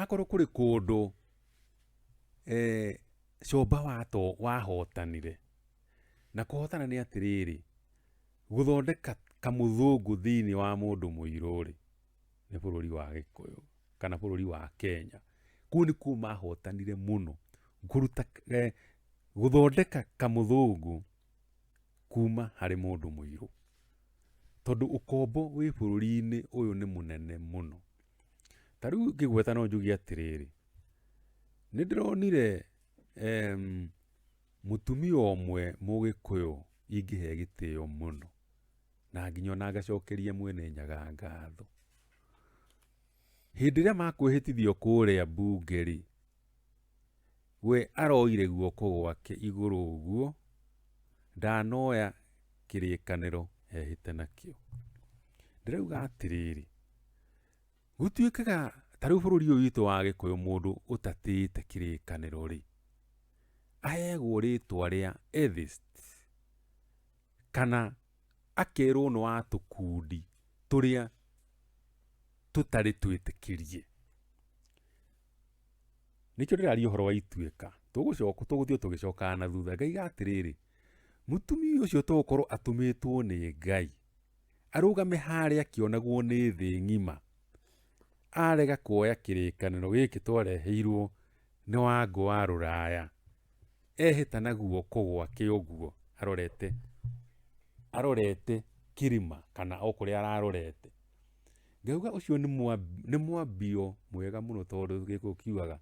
Akorwo kũrĩ kũndũ cũmba wahotanire, na kũhotana nĩ atĩrĩrĩ, gũthondeka kamũthũngũ thĩinĩ wa mũndũ mũirũ rĩ, nĩ bũrũri wa Gĩkũyũ kana bũrũri wa Kenya. Kũu nĩkuo mahotanire mũno, gũthondeka kamũthũngũ. kuma harĩ mũndũ mũirũ. Tondũ ũkombo wĩ bũrũri-inĩ ũyũ nĩ mũnene mũno. Ta rĩu ngĩgweta no njuge atĩrĩrĩ, nĩ ndĩronire mũtumia ũmwe mũgĩkũyũ ingĩhe gĩtĩo mũno, na nginya ona ngacokeria mwene Nyaga ngatho. Hĩndĩ ĩrĩa makwĩhĩtithio kũrĩa mbunge rĩ, We aroire guoko gwake igũrũ ũguo, ndanoya kĩrĩkanĩro ehĩte nakĩo. Ndĩrauga atĩrĩrĩ, gũtuĩkaga ta rĩu bũrũri ũyũ witũ wa gĩkũyũ mũndũ ũtatĩĩte kĩrĩkanĩro rĩ, aheagwo rĩtwa rĩa atheist, kana akerwo nĩ wa tũkundi tũrĩa tũtarĩ twĩtĩkĩrie. nĩkĩo ndĩraria ũhoro wa ituĩka tũgũcoka tũgũthiĩ tũgĩcokaga na thutha ngai ga atĩrĩrĩ mũtumia ũcio tũgũkorwo atũmĩtwo nĩ ngai arũgame harĩa akĩonagwo nĩ thĩ ng'ima arega kuoya kĩrĩkanĩro gĩkĩ twareheirwo nĩ wango wa rũraya ehĩta na guoko gwake ũguo arorete arorete kĩrima kana o kũrĩa ararorete Ngauga ũcio nĩ mwambi- nĩ mwambio mwega mũno tondũ gĩkũyũ kiugaga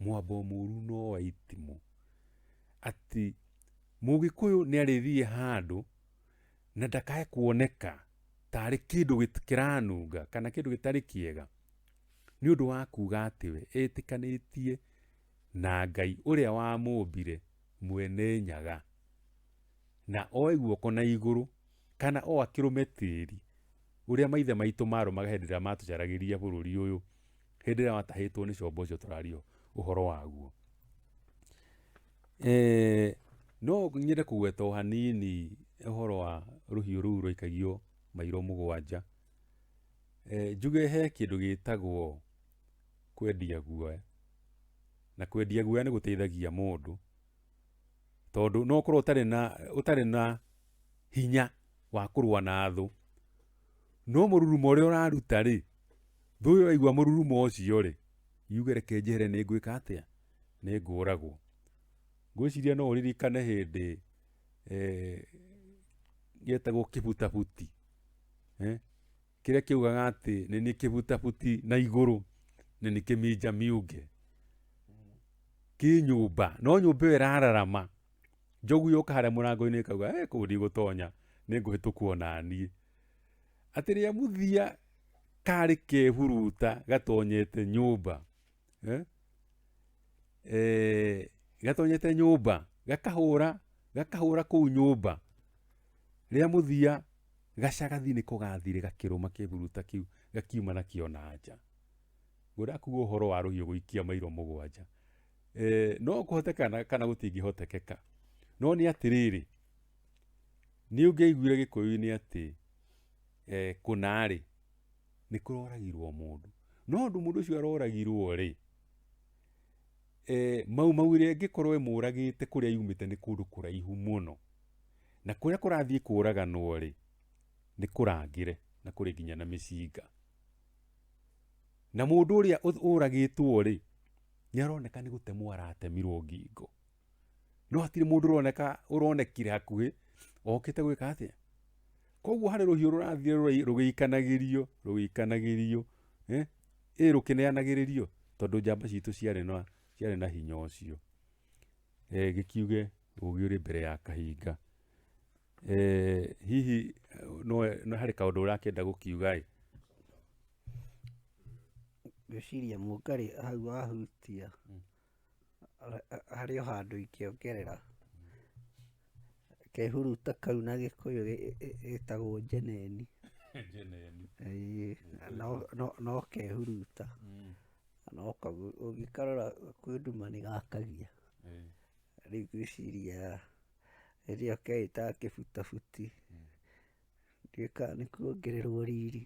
mwambo mũru no wa itimũ atĩ mũgĩkũyũ nĩ arĩthiĩ handũ na ndakae kuoneka tarĩ kĩndũ gĩt- kĩranunga kana kĩndũ gĩtarĩ kĩega nĩ ũndũ wa kuga atĩ we etĩkanĩtie na ngai ũrĩa wamũmbire mwene nyaga na oe guoko na igũrũ kana o akĩrũme tĩri ũrĩa maithe maitũ marũmaga hĩndĩ ĩrĩa matũcaragĩria bũrũri ũyũ hĩndĩ ĩrĩa watahĩtwo nĩ combo ũcio tũrario ũhoro waguo eh, no nyende kũgweta o hanini ũhoro wa rũhiũ rũu rũikagio mairo mũgwanja eh, njuge he kĩndũ gĩtagwo kwendia guoya na kwendia guoya nĩ gũteithagia mũndũ tondũ no ũkorwo ũtarĩ na ũtarĩ na hinya wa kũrũa na thũ. No mũrurumo ũrĩa ũraruta-rĩ, thũ ĩyo yaigua mũrurumo ũcio-rĩ, yuge reke njehere nĩ ngwĩka atĩa? Nĩ ngũragwo. Ngwĩciria no ũririkane hĩndĩ gĩetagwo kĩbutabuti, kĩrĩa kĩaugaga atĩ nĩ niĩ kĩbutabuti na igũrũ, nĩ niĩ kĩminja miunge. Kĩ nyũmba, no nyũmba ĩyo ĩrararama njogu yũka harĩa mũrango-inĩ ĩkauga eh, kũu ndigũtonya nĩ ngũhĩtũku ona niĩ atĩ rĩa mũthia karĩ kehuruta gatonyete nyũmba eh? eh, gatonyete nyũmba gakahũra gakahũra kũu nyũmba rĩa mũthia gacagathi nĩ kũgathire gakĩrũma kĩhuruta kĩu gakiuma nakĩo na nja ngũrakuga ũhoro wa rũhiũ gũikia mairo mũgwanja e, no kũhoteka na- kana gũtingĩhotekeka no nĩ atĩrĩrĩ nĩ ũngĩaiguire gĩkũyũ-inĩ atĩ e, kũnarĩ nĩ kũroragirwo mũndũ no ũndũ mũndũ ũcio aroragirwo rĩ e, mau mau ĩrĩa ĩngĩkorwo ĩmũragĩte kũrĩa yumĩte nĩ kũndũ kũraihu mũno na kũrĩa kũrathiĩ kũraganwo rĩ nĩ kũrangĩre na kũrĩ nginya na mĩcinga na mũndũ ũrĩa ũth- ũragĩtwo rĩ nĩ aroneka nĩ gũtemwo aratemirwo ngingo no hatirĩ mũndũ ũroneka ũronekire hakuhĩ okĩte gwĩka atĩa koguo harĩ rũhiũ rũrathire rũrĩ- rũgĩikanagĩrio rũgĩikanagĩrio eh, ĩ rũkĩneanagĩrĩrio tondũ njamba citũ ciarĩ na ciarĩ na hinya ũcio eh, gĩkiuge ũgĩ ũrĩ mbere ya kahinga Eh, hihi nowe no harĩ kaũndũ ũrakĩenda gũkiuga ĩ ngwĩciria mũngarĩ hau wahutia ha- ha- harĩ o handũ ingĩongerera kehuruta kau na gĩkũyũ gĩ- gĩ- gĩ- gĩtagwo njeneni Ĩĩ, no- no- no kehuruta no kagu- ũngĩkarora kwĩ nduma nĩ gakagia rĩu ngwĩciria rĩrĩa keĩtaga kĩbutabuti gĩkaga nĩ kuongererwo riri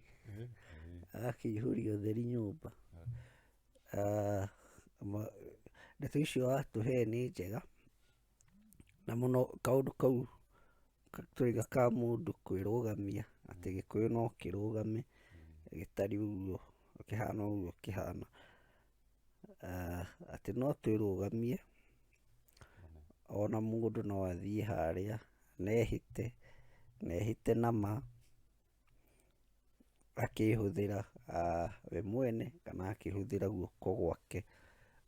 agakĩihũria ũtheri nyũmba Ah, ma- ndeto icio watũhe nĩ njega na mũno kaũndũ kau ka- twaiga ka mũndũ kwĩrũgamia atĩ gĩkũyũ no kĩrũgame gĩtari ũguo kĩhana ũguo kĩhana ah, atĩ no twĩrũgamie ona mũndũ no athiĩ harĩa nehĩte nehĩte na ma akĩhũthĩra ah, we mwene kana akĩhũthĩra guoko gwake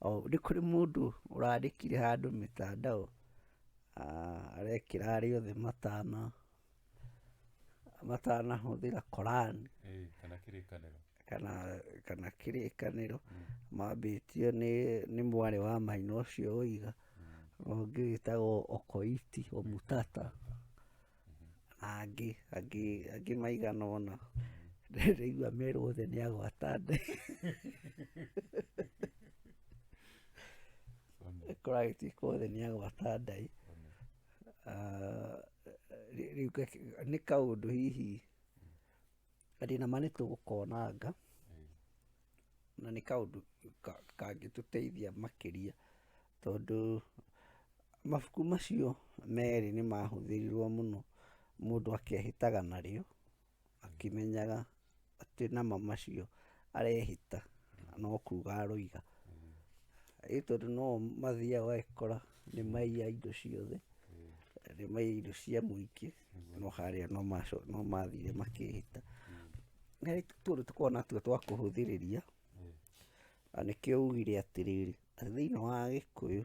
O, nĩ kũrĩ mũndũ ũrandĩkire handũ mĩtandao ah, arekĩra arĩa othe matana matanahũthĩra Koran eh, kana kĩrĩkanĩro kana kana kĩrĩkanĩro mm. mambĩtio nĩ nĩ mwarĩ wa maina ũcio ũiga mm. ũngĩ wĩtagwo okoiti omutata mm-hmm. na angĩ angĩ angĩ maigana ũna ndaigua mm. merwo othe nĩ agwata nde kũragĩtuĩka othe nĩ agwata ndai Rĩu nĩ kaũndũ hihi mathĩna marĩa tũgũkonanga na nĩ kaũndũ kangĩtũteithia makĩria tondũ mabuku macio merĩ nĩ mahũthĩrirwo mũno mũndũ akehĩtaga narĩo. akĩmenyaga atĩ nama macio arehĩta no kuga aroiga. Rĩu tondũ no o mathiaga ũgagĩkora nĩ maiya indo ciothe, nĩ maiya indo cia mũingĩ, no harĩa no maco- no mathire makĩhĩta. Na rĩu tũtũ tũkoragwo natuo twa kũhũthĩrĩria, na nĩkĩo ugire atĩrĩrĩ, thĩiniĩ wa Gĩkũyũ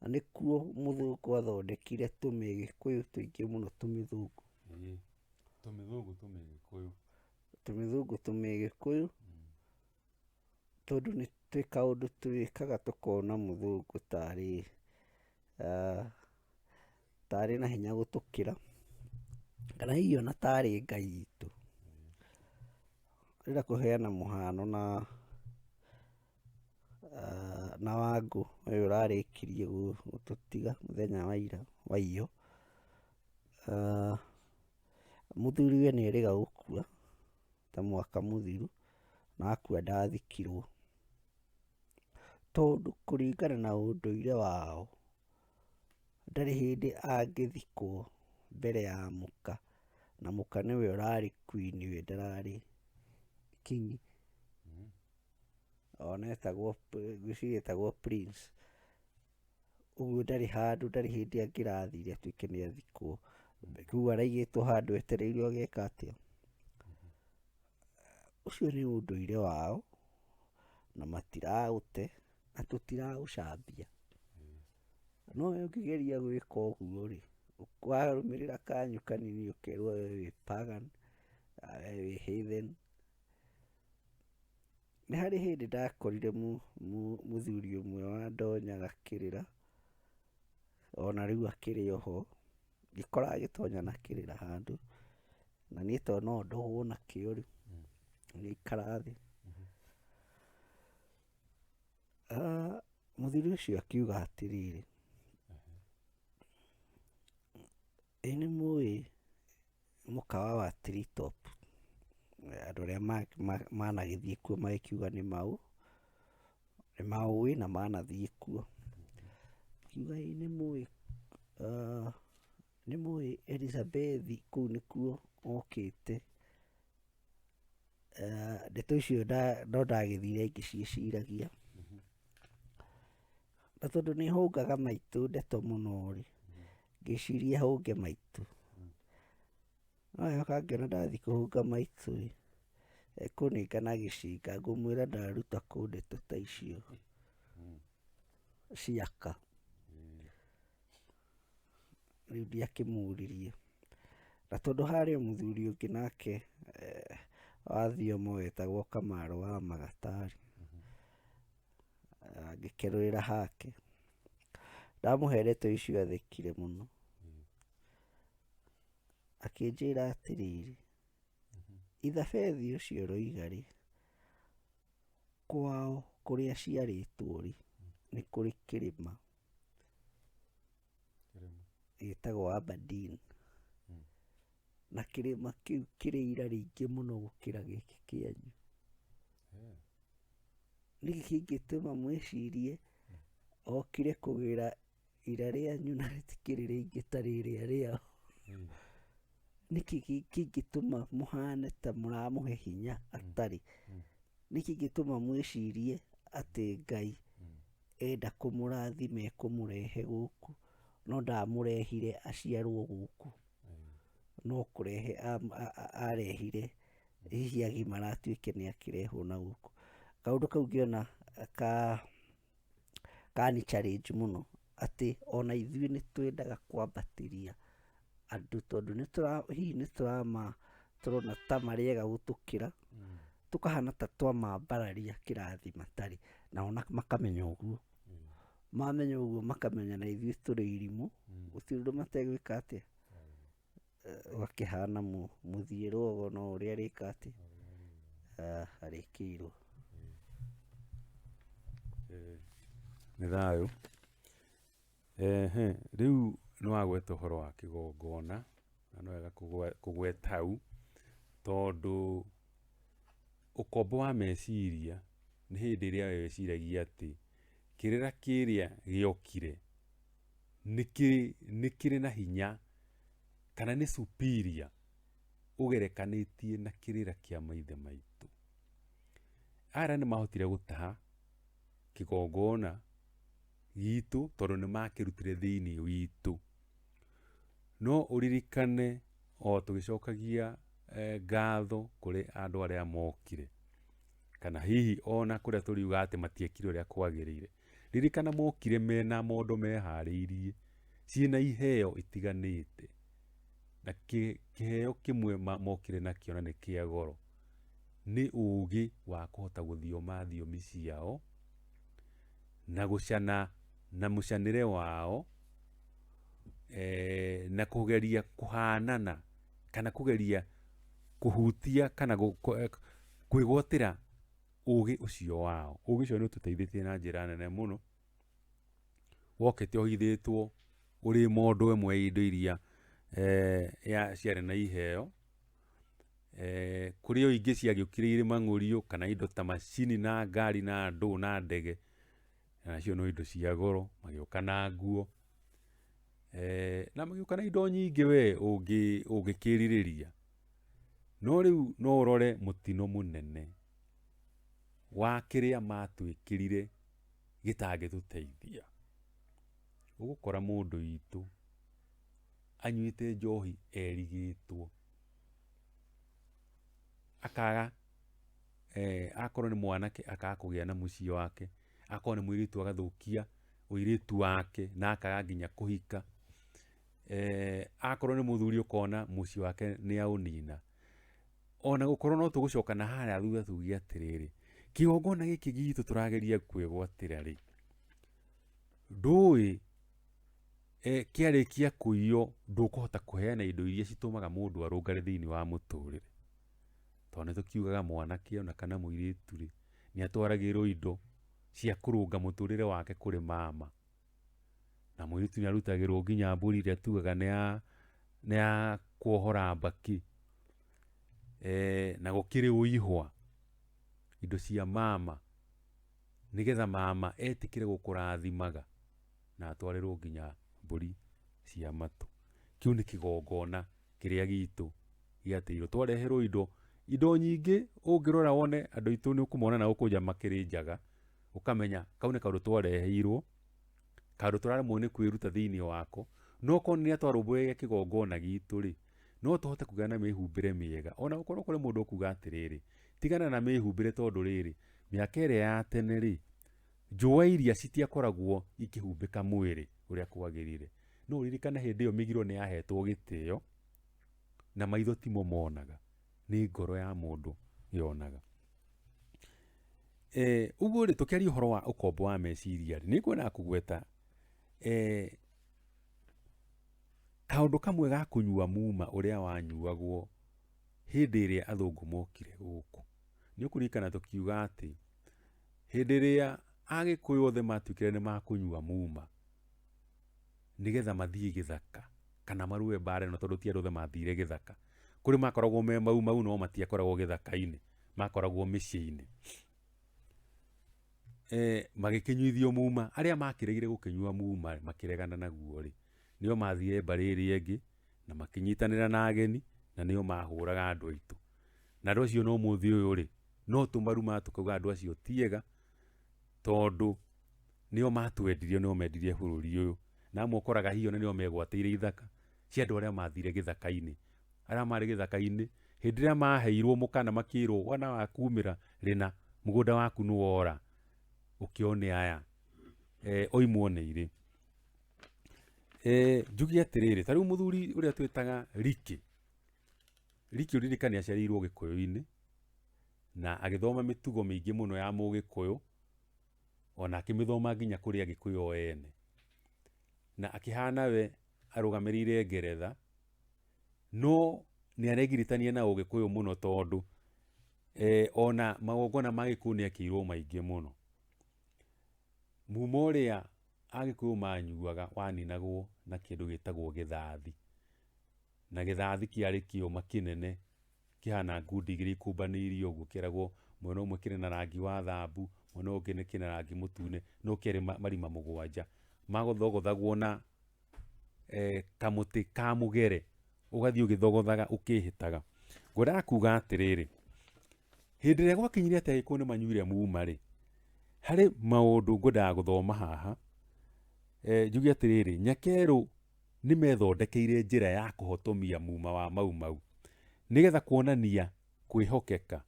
Na nĩkuo mũthũngũ athondekire tũmĩgĩkũyũ tũingĩ mũno tũmĩthũngũ. Ĩĩ. Tũmĩthũngũ tũmĩgĩkũyũ. Tũmĩthũngũ tũmĩgĩkũyũ mm. tondũ nĩ twĩ kaũndũ twĩkaga tũkona mũthũngũ tarĩ uh, tarĩ na hinya gũtũkĩra kana hihi ona tarĩ ngai itũ. Ndĩrenda kũheana mũhano na Na Wangũ ũyũ ũrarĩkirie gũtũtiga mũthenya wa ira waiyũ, mũthuriwe nĩ erĩga gũkua ta mwaka mũthiru na akua ndathikirwo. Tondũ kũringana na ũndũire wao ndarĩ hĩndĩ angĩthikwo mbere ya mũka, na mũka nĩwe ũrarĩ queen we ndararĩ king. ona etagwo ngwĩciria etagwo Prince, ũguo ndarĩ handũ ndarĩ hĩndĩ angĩrathire atuĩke nĩ athikwo, rĩu araigĩtwo handũ etereire ũgeka atĩa, ũcio nĩ ũndũire wao na matiraũte na tũtiraũcambia, no we ũngĩgeria gwĩka ũguo rĩ, warũmĩrĩra kanyu kanini ũkerwo we wĩ pagan, we wĩ heathen, Nĩ harĩ hĩndĩ ndakorire mũthuri ũmwe wandonya gakĩrĩra, ona rĩu akĩrĩ o ho, ngĩkora agĩtonya na kĩrĩra handũ, na niĩ tondũ no ndohwo nakĩo rĩ, ngĩikara thĩ. Mũthuri ũcio akiuga atĩrĩrĩ, Ĩ nĩ mũĩ mũkawa wa Tree Top? Andũ arĩa managĩthiĩ kuo magĩkiuga nĩ maũ, nĩ maũĩ na manathiĩ kuo. Akiuga ĩ nĩ mũĩ nĩ mũĩ Elizabethi kũu nĩkuo okĩte. Eh, ndeto icio nda- no ndagĩthire ngĩciĩciragia na tondũ nĩ hũngaga maitũ ndeto mũno rĩ ngĩciria hũnge maitũ no yoka ngĩona ndathi kũhũnga maitũ rĩ ekũnengana gĩcinga ngũmwĩra ndaruta kũ ndeto ta icio ciaka rĩu ndiakĩmũririe na tondũ harĩ o mũthuri ũngĩ nake eh, wa thiomo wetagwo kamarũ wa magatari angĩkerũĩra hake ndamũherete icio athekire mũno akĩnjĩra atĩrĩrĩ ithabethi ũcio roigarĩ kwao kũrĩa ciarĩtwo rĩ nĩ kũrĩ kĩrĩma Kĩrĩma. gĩtagwo Aberdeen Mm. na kĩrĩma kĩu kĩrĩ ira rĩingĩ mũno gũkĩra gĩkĩ kĩanyu Eh, nĩkĩ kĩngĩtũma mwĩcirie okire kũgĩra ira rĩanyu na rĩtikĩrĩ rĩingĩ ta rĩrĩa rĩao eh, nĩkĩ kĩ- kĩngĩtũma mũhane ta mũramũhe hinya atarĩ Mm. nĩkĩ kĩngĩtũma mwĩcirie atĩ ngai Mm. enda kũmũrathime kũmũrehe gũkũ no ndamũrehire aciarwo gũkũ no kũrehe am- a- a- arehire hihi agimara atuĩke nĩ akĩrehwo na gũkũ kaũndũ kau ngĩona ka kani challenge mũno atĩ ona ithuĩ nĩ twendaga kwambatĩria andũ tondũ nĩtũra hihi nĩtũrama tũrona ta marĩega gũtũkĩra tũkahana ta twamambararia kĩrathi matarĩ nao na- makamenya ũguo Mm. mamenya ũguo makamenya na ithuĩ tũrĩ irimũ Mm. gũtirĩ ũndũ mategwĩka atĩa Eh, gakĩhana mu- mũthiĩrwo ũgo no ũrĩa arĩka atĩ Ah, arĩkĩirwo Eh, nĩ thayũ Ehe, rĩu nĩ wagweta ũhoro wa kĩgongona na nĩ wega kũgwe- kũgweta hau tondũ ũkombo wa meciria nĩ hĩndĩ ĩrĩa we wĩciragia atĩ kĩrĩra kĩrĩa gĩokire nĩ kĩrĩ nĩ kĩrĩ na hinya kana nĩ superior ũgerekanĩtie na kĩrĩra kĩa maithe maitũ. Aya nĩ mahotire gũtaha kĩgongona gitũ tondũ nĩ makĩrutire thĩinĩ witũ. No ũririkane o tũgĩcokagia eh, ngatho kũrĩ andũ arĩa mokire kana hihi ona kũrĩa tũriuga atĩ matiekire ũrĩa kwagĩrĩire ririkana mokire mena mondo meharĩirie ciĩna iheo itiganĩte na kĩ- kĩheo kĩmwe ma- mokire nakĩo na nĩ kĩa goro nĩ ũũgĩ wa kũhota gũthioma thiomi ciao na gũcana na mũcanĩre wao eh, na kũgeria kũhanana kana kũgeria kũhutia kana gũ- kũ- eh, kwĩgwatĩra ũgĩ ũcio wao ũgĩ ũcio nĩ ũtũteithĩtie na njĩra nene mũno wokĩte ũhithĩtwo ũrĩ mondo ĩmwe ya indo iria eh, ya- ciarĩ na iheo Eh, kũrĩ o ingĩ ciagĩũkire irĩ mang'ũriũ kana indo ta macini na ngari na ndũ na ndege nacio no indo cia goro magĩũka na nguo eh, na magĩũka na indo nyingĩ we ũngĩ- ũngĩkĩrirĩria no rĩu no ũrore mũtino mũnene wa kĩrĩa matwĩkĩrire gĩtangĩtũteithia ũgũkora mũndũ witũ anyuĩte njohi erigĩtwo akaga eh, akorwo nĩ mwanake akaga kũgĩa na mũciĩ wake akorwo nĩ mũirĩtu agathũkia ũirĩtu wake na akaga nginya kũhika eh, akorwo nĩ mũthuri ũkona mũciĩ wake nĩ aũnina ona gũkorwo no tũgũcoka na harĩa thutha tuge atĩrĩrĩ kĩgongona gĩkĩ gitũ tũrageria kwĩgwatĩra rĩ ndũĩ e, kĩarĩkia kũiywo ndũkũhota kũheana indo iria citũmaga mũndũ arũngare thĩinĩ wa mũtũrĩre tondũ nĩ tũkiugaga mwanake ona kana mũirĩtu rĩ nĩ atwaragĩrwo indo cia kũrũnga mũtũrĩre wake kũrĩ mama na mũirĩtu nĩ arutagĩrwo nginya mbũri ĩrĩa tugaga nĩ ya nĩ ya kuohora mbakĩ e, na gũkĩrĩ ũihwa indo cia mama nĩgetha mama etĩkĩre gũkũrathimaga na atwarĩrwo nginya mbũri cia matũ. Kĩu nĩ kĩgongona kĩrĩa gitũ gĩatĩirwo twareherwo indo indo nyingĩ ũngĩrora wone andũ aitũ nĩ ũkũmona na ũkũnja makĩrĩ njaga ũkamenya kau nĩ kaũndũ twareheirwo kaũndũ tũraremwo nĩ kwĩruta thĩinĩ wako no korwo nĩ atwarũmbũyagia kĩgongona gitũ rĩ no tũhote kũgĩa na mĩhumbĩre mĩega ona gũkorwo kũrĩ mũndũ ũkuga atĩrĩrĩ tigana na mĩhumbĩre tondũ rĩrĩ Mĩaka ĩrĩa ya tene-rĩ, njũa iria citiakoragwo ikĩhumbĩka mwĩrĩ ũrĩa kwagĩrĩire. No ũririkane hĩndĩ ĩyo mĩgiro nĩ yahetwo gĩtĩo, na maitho timo monaga, nĩ ngoro ya mũndũ yonaga. Ũguo-rĩ, tũkĩaria ũhoro wa ũkombo wa meciria, nĩ ngwendaga kũgweta kaũndũ kamwe ga kũnyua muma ũrĩa wanyuagwo hĩndĩ ĩrĩa athũngũ mokire gũkũ. nĩ ũkũririkana tũkiuga atĩ hĩndĩ ĩrĩa agĩkũyũ othe matuĩkire nĩ makũnyua muma nĩgetha mathiĩ gĩthaka kana marũe mbara ĩno tondũ ti andũ othe mathire gĩthaka kũrĩ makoragwo me mau mau no matiakoragwo gĩthaka-inĩ makoragwo mĩciĩ-inĩ eh, magĩkĩnyuithio muma arĩa makĩregire gũkĩnyua muma makĩregana naguo rĩ nĩo mathire mbarĩ ĩrĩa ĩngĩ na makĩnyitanĩra na ageni na nĩo mahũraga andũ aitũ. Na andũ acio no mũthĩ ũyũ rĩ, no tũmaruma tũkauga andũ acio tiega tondũ nĩo matwendirie, nĩo mendirie bũrũri ũyũ. Na amwe ũkoraga hihi ona nĩo megwatĩire ithaka cia andũ arĩa mathire gĩthaka-inĩ. Arĩa marĩ gĩthaka-inĩ hĩndĩ ĩrĩa maheirwo mũkana makĩrwo wana wa kumĩra rĩna mũgũnda waku nĩ wora, ũkĩone aya oimwo nĩ irĩ. Eh, njuge atĩrĩrĩ ta rĩu mũthuri ũrĩa twĩtaga riki riki ũririkane aciarĩirwo gĩkũyũ-inĩ na agĩthoma mĩtugo mĩingĩ mũno ya mũgĩkũyũ ona akĩmĩthoma nginya kũrĩ agĩkũyũ o ene na akĩhana we arũgamĩrĩire ngeretha no nĩ aregiritania na ũgĩkũyũ mũno tondũ eh, ona magongona ma gĩkũyũ nĩ ekĩirwo maingĩ mũno muma ũrĩa Agĩkũyũ manyuaga waninagwo na kĩndũ gĩtagwo gĩthathi. Na gĩthathi kĩarĩ kĩũma kĩnene kĩhana ngundi igĩrĩ ikũmbanĩirio ũguo kĩeragwo mwena ũmwe kĩrĩ na rangi wa thambu, mwena ũyũ ũngĩ kĩna rangi mũtune, no kĩarĩ marima mũgwanja. Magothogothagwo na kamũtĩ ka mũgere, ũgathiĩ ũgĩthogothaga ũkĩhĩtaga. Ngwendaga kuga atĩrĩrĩ, Hĩndĩ ĩrĩa gwakinyire atĩ agĩkũyũ nĩ manyuire muuma-rĩ, harĩ maũndũ ngwendaga gũthoma haha, eh, njuge atĩrĩrĩ, Nyakerũ nĩ methondekeire njĩra ya kũhotomia muuma wa Mau Mau nĩgetha kuonania kwĩhokeka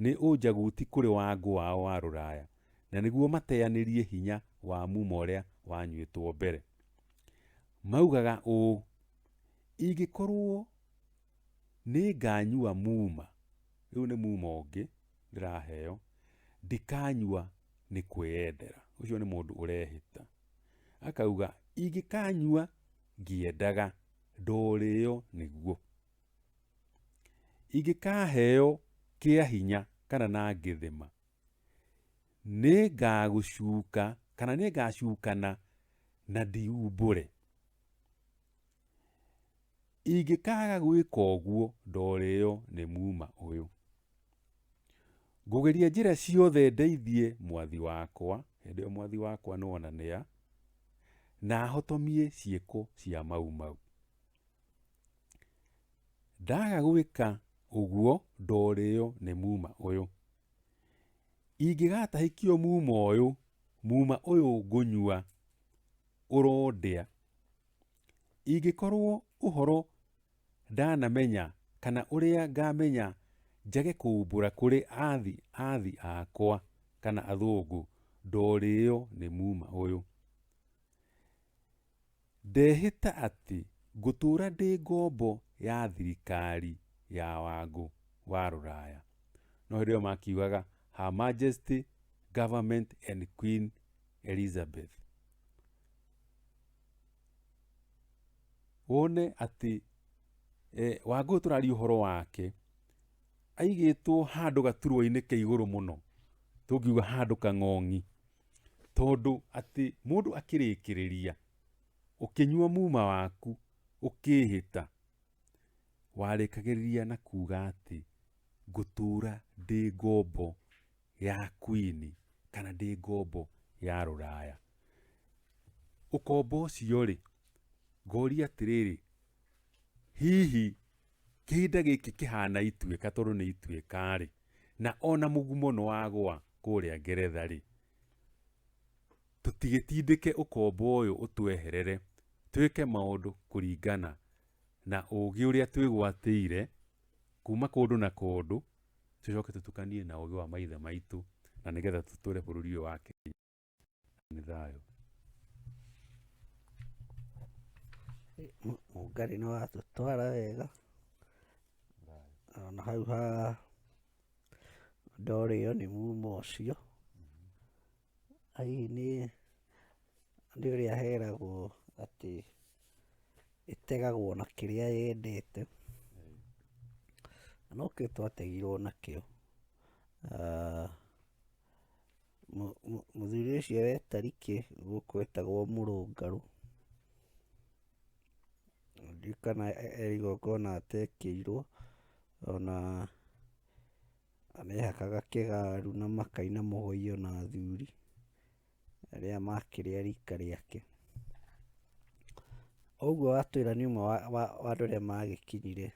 nĩ ũnjaguti kũrĩ wangũ wao wa rũraya na nĩguo mateanĩrie hinya wa muuma ũrĩa wanyuĩtwo mbere. Maugaga ũũ, ingĩkorwo nĩ nganyua muma, rĩu nĩ muma ũngĩ ndĩraheo, ndikanyua nĩ kwĩyendera. Ũcio nĩ mũndũ ũrehĩta. Akauga ingĩkanyua ngĩendaga ndorĩo nĩguo. Ingĩkaheo kĩa hinya kana na ngĩthĩma, nĩ ngagũcuka kana nĩ ngacukana na ndiumbũre. ingĩkaga gwĩka ũguo ndoreo nĩ muuma ũyũ. Ngũgeria njĩra ciothe ndeithie mwathi wakwa, hĩndĩ ĩyo mwathi wakwa nĩwonanĩa, na ahotomie ciĩko cia mau mau. Ndaga gwĩka ũguo ndoreo nĩ muuma ũyũ. Ingĩgatahĩkio muuma ũyũ, muuma ũyũ ngũnyua ũrondĩa. Ingĩkorwo ũhoro ndanamenya kana ũrĩa ngamenya njage kũumbũra kũrĩ athi athi akwa kana athũngũ ndorĩo nĩ muma ũyũ. Ndehĩta atĩ ngũtũra ndĩ ngombo ya thirikari ya wangũ wa rũraya. No hĩndĩ ĩyo makiugaga Her Majesty Government and Queen Elizabeth. Wone atĩ eh, Wangũyũ tũraria ũhoro wake aigĩtwo handũ gaturwa-inĩ ke igũrũ mũno tũngiuga handũ kang'ong'i tondũ atĩ mũndũ akĩrĩkĩrĩria ũkĩnyua muma waku ũkĩhĩta warĩkagĩrĩria na kuga atĩ ngũtũra ndĩ ngombo ya kwini kana ndĩ ngombo ya rũraya ũkombo ũcio rĩ ngoria atĩrĩrĩ hihi kĩhinda gĩkĩ kĩhana ituĩka tondũ nĩ ituĩka rĩ na ona mũgumo nĩ wagwa kũrĩa ngeretha rĩ tũtigĩtindĩke ũkombo ũyũ ũtweherere twĩke maũndũ kũringana na ũũgĩ ũrĩa twĩgwatĩire kuma kũndũ na kũndũ tũcoke tũtukanie na ũgĩ wa maithe maitũ na nĩgetha tũtũre bũrũri ũyũ wa Kenya nĩ thayũ. Mũngarĩ nĩ watũtwara wega ona hau ha ndorĩo nĩ muma ũcio Hihi nĩ nĩ ũrĩa heragwo atĩ ĩtegagwo na kĩrĩa yendete, na nokĩo twategirwo nakĩo. Ah, mũ- mũ- mũthuri ũcio wĩ Tariki gũkũ etagwo Mũrũngarũ, na ndiũĩ kana e- e igongona atekĩirwo, ona Arehakaga kĩgaru na makaina mũhũyũ na athuri arĩa makĩrĩ a rika rĩake. Ũguo Watwĩra nĩ ũmwe wa, wa, wa andũ arĩa magĩkinyire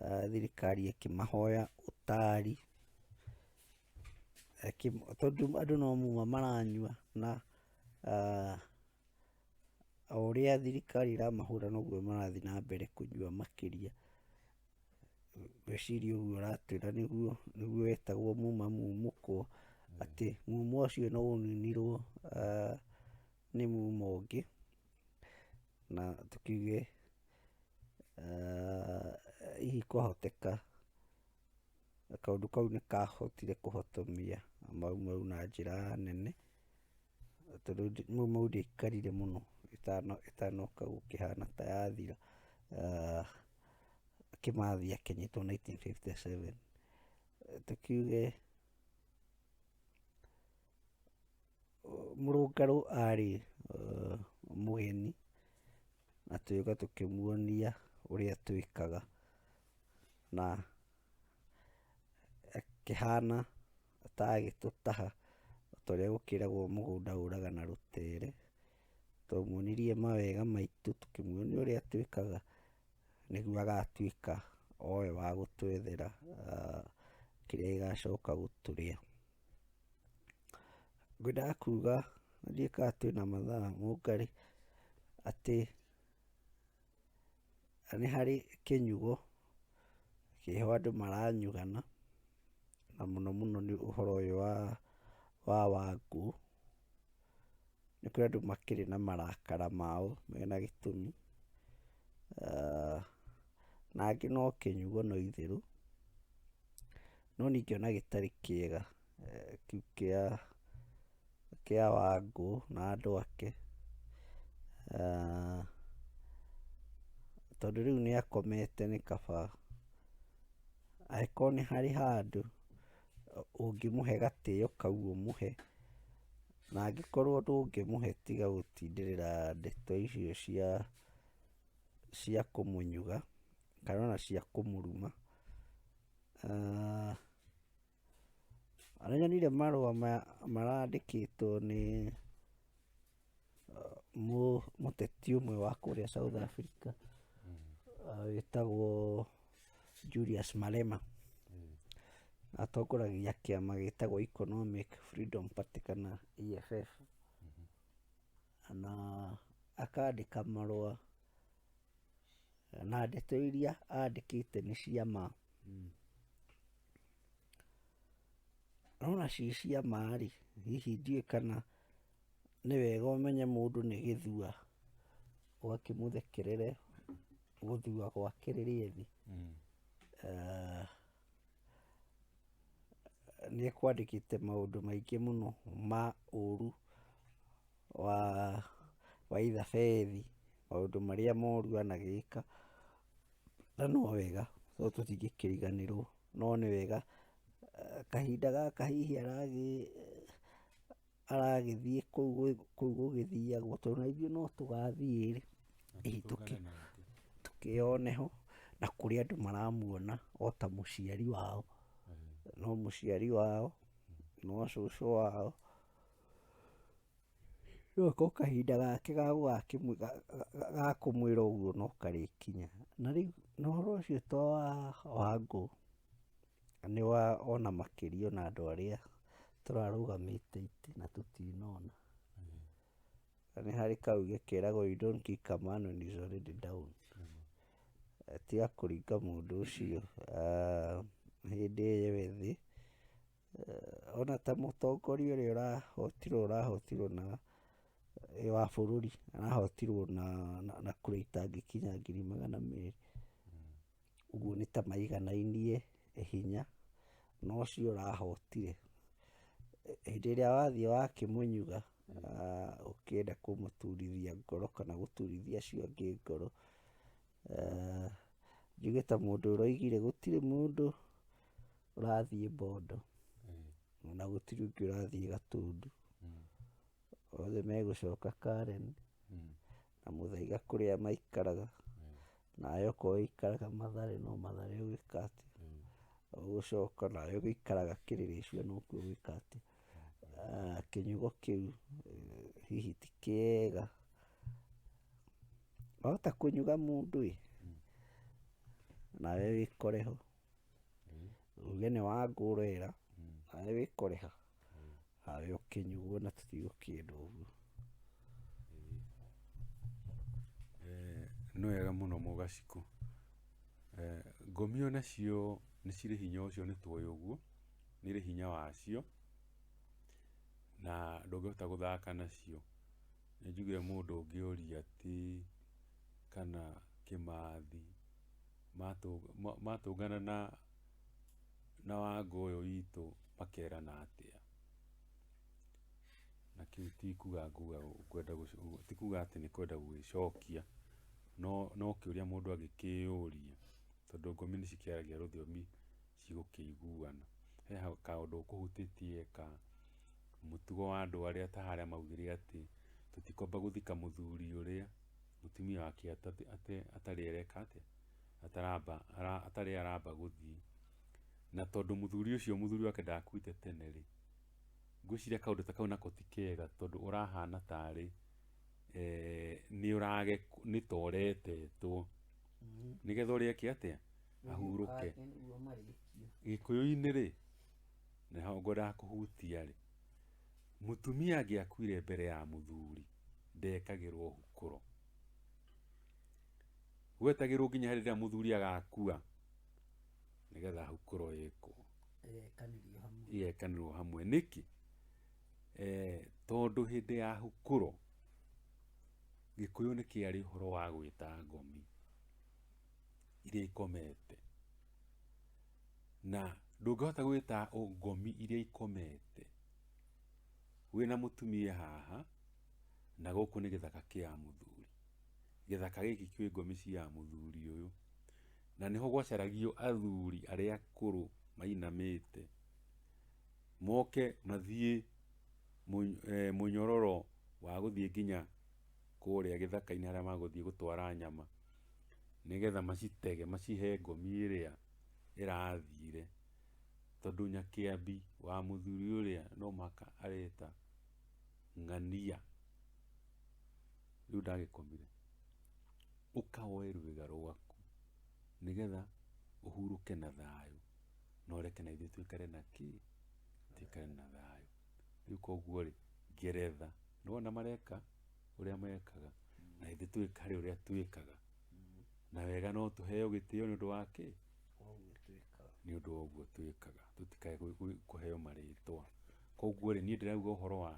ah, thirikari ĩkĩmahoya ũtari Eki- tondũ andũ no muma maranyua na ah, o ũrĩa thirikari ĩramahũra noguo marathiĩ na mbere kũnyua makĩria ngwĩciria ũguo ũratwĩra nĩguo nĩguo wetagwo muma mumũkwo, atĩ muma ũcio no ũninirwo ah, nĩ muma ũngĩ, na tũkiuge ah, hihi kwahoteka kaũndũ kau nĩkahotire kũhotomia mau mau na njĩra nene, Tondũ mau ndiaikarire mũno ĩtanoka gũkĩhana ta yathira, Kĩmathi akĩnyitwo nineteen fifty seven. Tũkiuge mũrũngarũ arĩ mũgeni na tũgĩũka tũkĩmuonia ũrĩa twĩkaga na akĩhana atagĩtũtaha torĩa gũkĩragwo mũgũnda ũraga na rũtere. Twamuonirie mawega maitũ tũkĩmuonia ũrĩa twĩkaga nĩguo agatuĩka owe wa gũtwethera kĩrĩa gĩgacoka gũtũrĩa. Ngwendaga kuga nĩ ndiũĩ kana twĩna mathaa mũngarĩ atĩ... Na nĩ harĩ kĩnyugo kĩho andũ maranyugana, na mũno mũno nĩ ũhoro ũyũ wa wa Wangũ. Nĩ kũrĩ andũ makĩrĩ na marakara mao mena gĩtũmi, na angĩ no kĩnyugo no itherũ, no ningĩ ona gĩtarĩ kĩega kĩu kĩa kĩa Wangũ na andũ ake, tondũ rĩu nĩ akomete nĩ kaba, angĩkorwo nĩ harĩ handũ ũngĩmũhe gatĩo kau ũmũhe, na angĩkorwo ndũngĩmũhe tiga gũtindĩrĩra ndeto icio cia cia kũmũnyuga kana ona cia kũmũruma. Nĩ nyonire marũa maya marandĩkĩtwo nĩ mũteti ũmwe wa kũrĩa South Africa wĩtagwo Julius Malema. Atongoragia kĩama gĩtagwo Economic Freedom Party kana EFF. Na akandĩka marũa na ndeto iria andĩkĩte nĩ cia ma. Mm. Nona ci cia ma rĩ, hihi ndiũĩ kana nĩ wega ũmenye mũndũ nĩ gĩthua ũgakĩmũthekerere gũthua gwake rĩrĩa ethĩ. Mm. Eh, nĩ ekwandĩkĩte maũndũ maingĩ mũno ma ũru wa wa Ithafeli, maũndũ marĩa moru anagĩka, na no wega tondũ tũtingĩkĩriganĩrwo, no nĩ wega kahinda gaka hihi aragĩ aragĩthiĩ kũu gũgĩthiagwo tondũ ona ithuĩ no tũgathiĩ-rĩ, hihi tũkĩ tũkĩyone ho, na kũrĩ andũ maramuona ota mũciari wao, no mũciari wao, no cũcũ wao, Rĩu ko kahinda gake ga gũgakĩmwĩ- ga- ga- ga kũmwĩra ũguo no karĩkinya na rĩu na ũhoro ũcio to wa wangũ nĩ wa ona makĩria ona andũ arĩa tũrarũgamĩte itĩ na tũtinona na nĩ harĩ kauge keragwo you don't kick a man when he's already down Eh, tiga kũringa mũndũ ũcio ah, hĩndĩ ĩyo e thĩ ona ta mũtongoria ũrĩa ũrahotirwo ũrahotirwo na wa bũrũri arahotirwo na, na, na kura itangĩkinya ngiri magana merĩ ũguo nĩ ta maiganainie hinya na ũcio ũrahotire hĩndĩ ĩrĩa wathiĩ wakĩmũnyuga ah, ũkĩenda kũmũturithia ngoro kana gũturithia acio angĩ ngoro Ah, njuge ta mũndũ ũroigire gũtirĩ mũndũ ũrathiĩ bondo na gũtirĩ ũngĩ ũrathiĩ gatũndũ othe megũcoka karen na mũthaiga kũrĩa maikaraga nawe okorwo ũikaraga mathare no mathare ũgwĩka atĩ ũgũcoka nawe ũgĩikaraga kĩrĩrĩcua nokuo ũgwĩka atĩ Ah, kĩnyugo kĩu eh, hihi ti kĩega wahota kũnyuga mũndũ ĩ nawe wĩkore ho uge nĩ wangũrĩra nawe wĩkũrĩha harĩ ũkĩnyuo na tũtigũkĩndwo ũguo Eh, nĩ wega mũno mũgacikũ Eh, ngũmio nacio nĩ cirĩ hinya ũcio nĩ tũĩ ũguo nĩ irĩ hinya wacio na ndũngĩhota gũthaka nacio nĩ njiguire mũndũ ũngĩũria atĩ kana kĩmathi matũngana na na wango ũyũ witũ makerana atĩa? Na kĩu ti kuga nguga ngwenda ti kuga atĩ nĩ kwenda gũgĩcokia, no no kĩũria mũndũ angĩkĩyũria tondũ ngomi nĩ cikĩaragia rũthiomi cigũkĩiguana. He kaũndũ ũkũhutĩtie ka mũtugo wa andũ arĩa ta harĩa maugire atĩ tũtikwamba gũthika mũthuri ũrĩa. mũtumia wake atate- ate- atarĩ areka atĩa ataramba ara- atarĩ aramba gũthiĩ na tondũ mũthuri ũcio mũthuri wake ndakuĩte tene rĩ ngwĩciria kaũndũ ta kau nako ti kega tondũ ũrahana tarĩ eh, nĩ ũrage nĩ toretetwo nĩgetha ũrĩa eke atĩa ahurũke Nĩguo marĩkio. gĩkũyũ-inĩ rĩ na ngwendaga kũhutia rĩ Mũtumia angĩakuire mbere ya mũthuri ndekagĩrwo hukũro. Gwetagĩrwo nginya hĩndĩ ĩrĩa mũthuri agakua nĩgetha hukũro ĩkwo ĩgekanĩrwo hamwe nĩkĩ eh, tondũ hĩndĩ ya hukũro gĩkũyũ nĩ kĩarĩ ũhoro wa gwĩta ngomi iria ikomete na ndũngĩhota gwĩta ngomi iria ikomete wĩna mũtumia haha na gũkũ nĩ gĩthaka kĩa mũthuri gĩthaka gĩkĩ kĩũĩ ngomi cia mũthuri ũyũ na nĩho gwacaragio athuri arĩa akũrũ mainamĩte moke mathiĩ mũny- eh, mũnyororo wa gũthiĩ nginya kũrĩa gĩthaka-inĩ harĩa magũthiĩ gũtwara nyama nĩgetha macitege macihe ngomi ĩrĩa ĩrathire, tondũ Nyakĩambi wa mũthuri ũrĩa no mũhaka areta ng'ania, rĩu ndagĩkomire, ũka woe rwĩga rwaku nĩgetha ũhurũke na thayũ, no reke na ithuĩ tũikare na kĩ? Tũikare na thayũ. Rĩu koguo-rĩ, Ngeretha, nĩwona mareka? ũrĩa mekaga na ithuĩ twĩkare ũrĩa twĩkaga na wega no tũheo gĩtĩo nĩ ũndũ wa kĩ nĩ ũndũ wa ũguo twĩkaga tũtikae gwĩ- gwĩ- kũheo marĩtwa koguo rĩ niĩ ndĩrauga ũhoro wa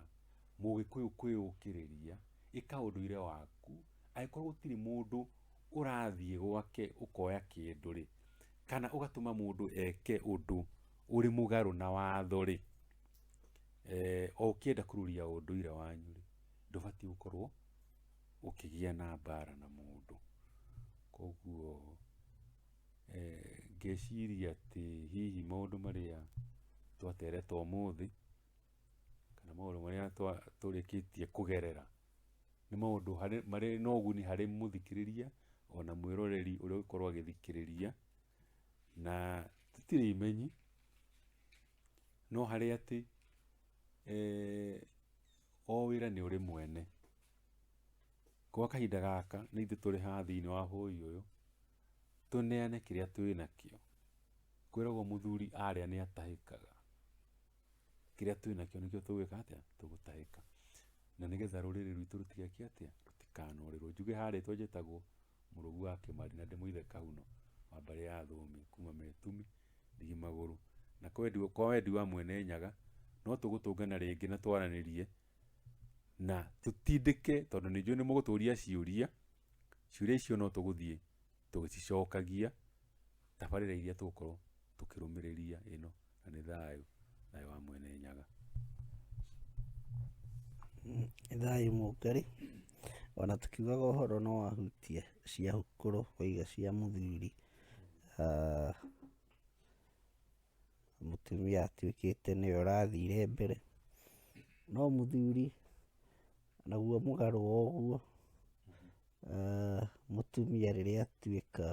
mũgĩkũyũ kwĩyũkĩrĩria ĩka ũndũire waku angĩkorwo gũtirĩ mũndũ ũrathiĩ gwake ũkoya kĩndũ rĩ kana ũgatũma mũndũ eke ũndũ ũrĩ mũgarũ na watho rĩ eh, o ũkĩenda kũruria ũndũire wanyu rĩ ndũbatiĩ gũkorwo ũkĩgĩa na mbara na mũndũ koguo eh, ngeciria atĩ hihi maũndũ marĩa twatereta ũmũthĩ kana maũndũ marĩa twa- tũrĩkĩtie kũgerera nĩ maũndũ harĩ- marĩ na ũguni harĩ mũthikĩrĩria ona mwĩroreri ũrĩa ũgũkorwo agĩthikĩrĩria na tũtirĩ imenyi No harĩ atĩ o wĩra nĩ ũrĩ mwene. Gwa kahinda gaka nĩ ithuĩ tũrĩ haha thĩinĩ wa bũyũ ũyũ tũneane kĩrĩa twĩnakĩo. Kwĩragwo mũthuri arĩa nĩ atahĩkaga. Kĩrĩa twĩnakĩo nĩkĩo tũgwĩka atĩa? Tũgũtahĩka. Na nĩ getha rũrĩrĩ rwitũ rũtigeke atĩa? Rũtikanorĩrwo. Njuge haha rĩtwa njĩtagwo Mũrũgu wa Kĩmari na ndĩ mũithe Kahuno wa mbarĩ ya Thũmbĩ kuma Metumi. Ndigi magũrũ. Na kwendi, kwa wendi wa Mwene Nyaga, no tũgũtũngana rĩngĩ na twaranĩrie na tũtindĩke, tondũ nĩ njũĩ nĩ mũgũtũria ciũria. Ciũria icio no tũgũthiĩ tũgĩcicokagia tabarĩra iria tũgũkorwo tũkĩrũmĩrĩria ĩno, na nĩ thayũ, thayũ wa Mwene Nyaga. thayũ mũngari ona tũkiugaga ũhoro no ahutie cia hukũrũ waiga cia mũthuri ah, mũtumia atuĩkĩte nĩwe ũrathire mbere, no mũthuri naguo mũgarũ wa ũguo, ah, mũtumia rĩrĩa atuĩka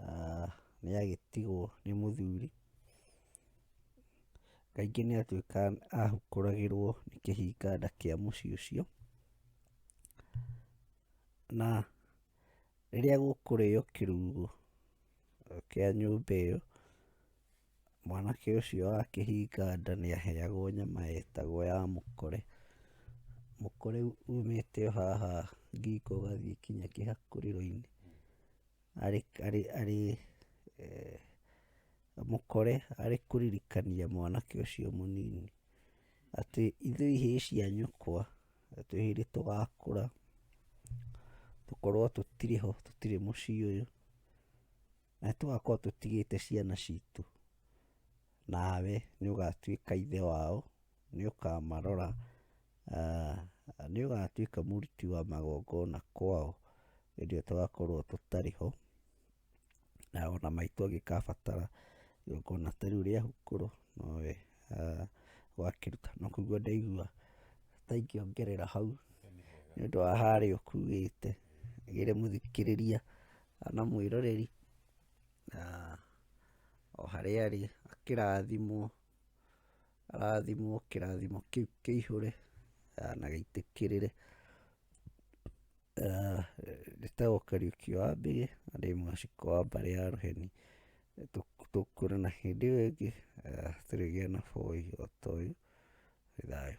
ah, nĩ agĩtigwo nĩ mũthuri, kaingĩ nĩ atuĩkaga ahukũragĩrwo nĩ kĩhinga nda kĩa mũciĩ ũcio, na Rĩrĩa gũkũrĩo kĩrugũ kĩa nyũmba ĩyo, mwanake ũcio akĩhinga nda nĩ aheagwo nyama ĩtagwo ya mũkore. Mũkore umĩte o haha ngingo ũgathiĩ nginya kĩhakurĩro-inĩ. Mũkore arĩ kũririkania mwanake ũcio mũnini. Atĩ ithuĩ hĩĩ cia nyũkwa, atĩ hĩndĩ tũgakũra, tũkorwo tũtirĩ ho, tũtirĩ mũciĩ ũyũ, na nĩ tũgakorwo tũtigĩte ciana citũ, nawe nĩ ũgatuĩka ithe wao, nĩ ũkamarora, nĩ ũgatuĩka mũruti wa magongona kwao hĩndĩ ĩyo tũgakorwo tũtarĩ ho. na ona maitũ angĩkabatara igongona ta rĩu rĩa hukũrũ nowe wakĩruta no kũigua ndaigua ta ingĩongerera hau nĩ ũndũ wa harĩa ũkuĩte gĩre mũthikĩrĩria na mwĩroreri o harĩa arĩ akĩrathimwo. arathimwo kĩrathimo kĩu kĩihũre ah, na gĩitĩkĩrĩre Ah, njĩtagwo kariuki wa mbĩgĩ na ndĩ mwaciko wa mbarĩ ya rũheni Tũk- tũkũre na hĩndĩ ĩyo ĩngĩ ah, tũrĩgĩa na bũi o ta ũyũ nĩ thayũ